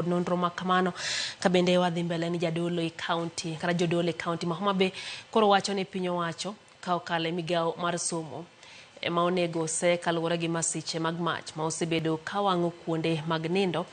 nonro ma kamano ka bende wadhi mbele ni jadolo e kaunti kata jodolo e kaunti ma Homa Bay koro wacho ni piny owacho ka okalo e migawo mar somo ema onego ose kaluwore gi masiche mag mach ma osebedo ka wang'o kuonde mag nindo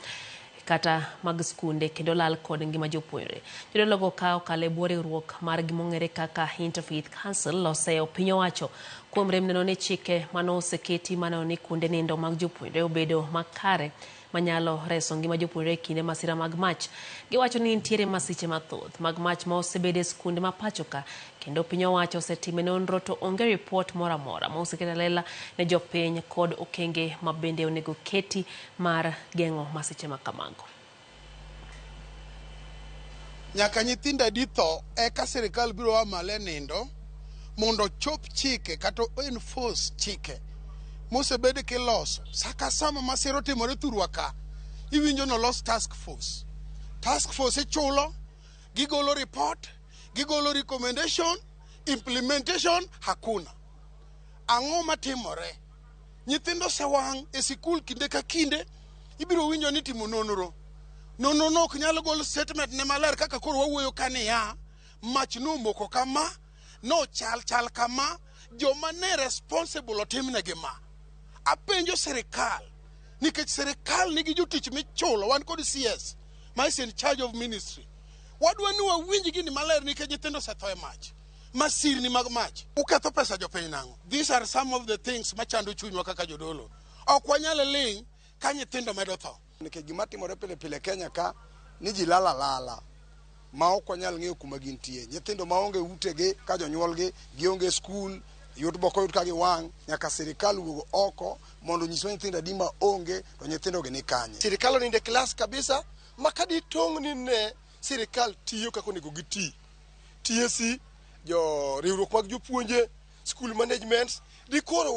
kata mag skunde kendo lal kod ngima jopuonjre. Jodologo ka okalo e bwo riwruok mar gimong'ere kaka Interfaith Council oseyo piny owacho kuom rem neno ni chike mane oseketi maneno ni kuonde nindo mag jopuonjre obedo makare manyalo reso ngima jopuonjre e kinde masira mag mach. Giwacho ni nitiere masiche mathoth mag mach ma osebede e skunde ma pachoka kendo piny owacho osetime nonro to onge ripot moro amora ma oseket alela ne jopiny kod okenge ma bende onego keti mar geng'o masiche ma kamago. Nyaka nyithindo adi tho eka sirkal biro a malo e nindo mondo ochop chike kata o enforce chike mosebed kiloso sa ka sa ma masira otimore thurwa ka iwinjo ni olos task force task force ichulo gigolo report gigolo recommendation implementation hakuna ang'o matimore Nyithindo osewang' e sikul kinde ka kinde, ibiro winjo ni timo nonro. Nonro no ok nyal gol statement ne maler kaka koro wawuoyo ka niya, mach nomoko kama, nochal chal kama, joma ne responsible otimnegi ma. Apenjo sirikal, nikech sirikal nigi jotich michulo, wan kod CS ma is in charge of ministry. Wadwa ni wawinj gini maler nikech nyithindo osetho e mach. masirni mag mach. Uketho pesa jopiny nang'o? These are some of the things machando chunywa kaka jodolo. Ok wanyal ling' ka nyithindo medo tho. Nikech gima timore pile pile Kenya ka ni ji lala lala ma ok wanyal ng'eyo kuma gintie. Nyithindo ma onge utegi ka jonyuolgi gionge skul yot boko yot ka giwang' nyaka sirikal wuog oko mondo nyiswa nyithindo adi ma onge to nyithindogi ni kanye. Sirikal oninde klas kabisa ma kaditong'ni ne sirikal tiyo kaka onego giti. TSC, jo riwruok mag jopuonje, school management, dikoro wa